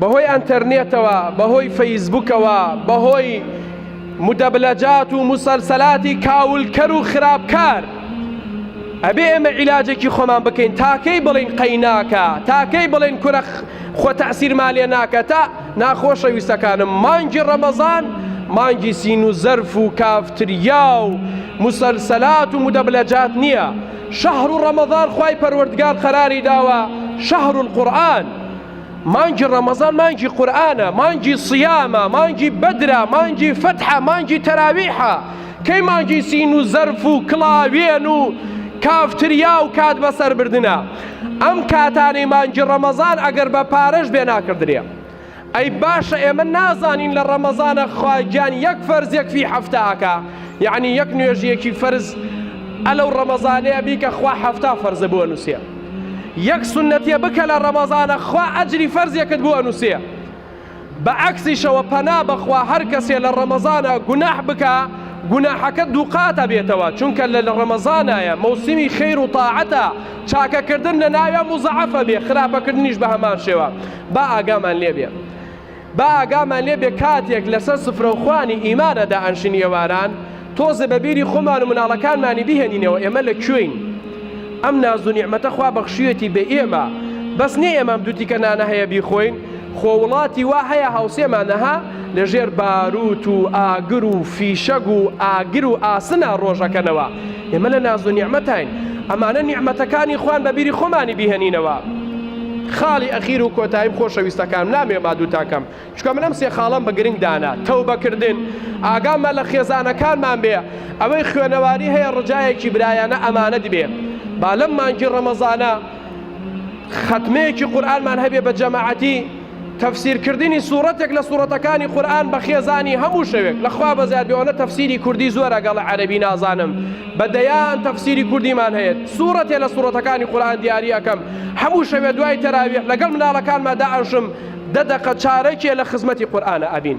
بەهۆی ئەنتەرنێتەوە، بەهۆی فەیسبوکەوە، بەهۆی مدەبلەجات و موسەلسەلاتی کاولکەر و خراپکار، ئەبێ ئێمە عیلاجێکی خۆمان بکەین، تا کەی بڵێین قەیناکە، تا کەی بڵێین کورە خۆ تەئسیرمان لێ ناکا، تا، ناخۆشە ویستەکانم، مانگی ڕەمەزان مانگی سین و زەرف و کافتریا و موسەلسەلات و مدەبلەجات نیە، شەهرو ڕەمەزان خوای پەروەردگار قەراری داوە شەهرول قورئان، مانگی ڕەمەزان مانگی قورئانە، مانگی صیامە، مانگی بەدرە، مانگی فەتحە، مانگی تەراویحە، کەی مانگی سین و زەرف و کڵاوێن و کافتریا و کات بەسەر بردنە؟ ئەم کاتانەی مانگی ڕەمەزان ئەگەر بە پارەش بێ ناکڕدرێ. ئەی باشە ئێمە نازانین لە ڕەمەزانە خوا گیان یەک فەرز یەک فی حەفتا ئەکا یەعنی یەک نوێژیەکی فەرز ئەلەو ڕەمەزانەیە بیکە خوا حەفتا فەرزە بۆ ئەنوسێ. یەک سونەتیە بکە لە ڕەمەزانە خوا ئەجری فەرزێکت بۆ ئەنوسێ بە عەکسیشەوە پەنا بەخوا هەر کەسێ لە ڕەمەزانە گوناح بکە گوناحەکە دووقاتە بێتەوە چونکە لە لە ڕەمەزانایە مەوسیمی خیر و تاعەتە چاکەکردن لە ناوێ مزعفە بێ خراپەکردنیش بە هەمان شێوە با ئاگامان لێبێ با ئاگامان لێ بێ کاتێک لەسەر سفرەوخوانی ئیمان ئەدا ئەنشین ئێواران تۆزێ بە بیری خۆمان و مناڵەکانمانی بهێنینەوە ئێمە لە کوێین ئەم نازو نیعمەتە خوا بەخشیوێتی بە ئێمە بەس نێ ئێمەم دوو تیکە نانە هەیە بیخۆین خۆ وڵاتی وا هەیە هاوسێمانە ها لە ژێر باروت و ئاگر و فیشەگ و ئاگر و ئاسنا ڕۆژەکەنەوە ئێمە لە نازو نیعمەتاین ئەمانە نیعمەتەکانی خوان بە بیری خۆمانی بهێنینەوە. خاڵی ئەخیر و کۆتاییم خۆشەویستەکانم نامەوێ مادووتان کەم چونکە من ئەم سێ خاڵەم بە گرنگ دانا، تەوبە کردن، ئاگامان لە خێزانەکانمان بێ، ئەوەی خوێنەواری هەیە ڕجایەکی برایانە ئەمانەت بێ، با لەم مانگی ڕەمەزانە خەتمەیەکی قورئانمان هەبێ بە جەماعەتی، تەفسیر کردنی سوڕەتێک لە سوڕەتەکانی قورئان بە خێزانی هەموو شەوێک لە خوا بەزیاد بێ ئەوەنە تەفسیری کوردی زۆر ئەگەڵ عەرەبی نازانم بە دەیان تەفسیری کوردیمان هەیەت سوڕەتێ لە سوڕەتەکانی قورئان دیاری ئەکەم هەموو شەوێ دوای تەراویح لەگەڵ مناڵەکانما دائەنشم دە دەقە چارەکێ لە خزمەتی قورئانە ئەبین.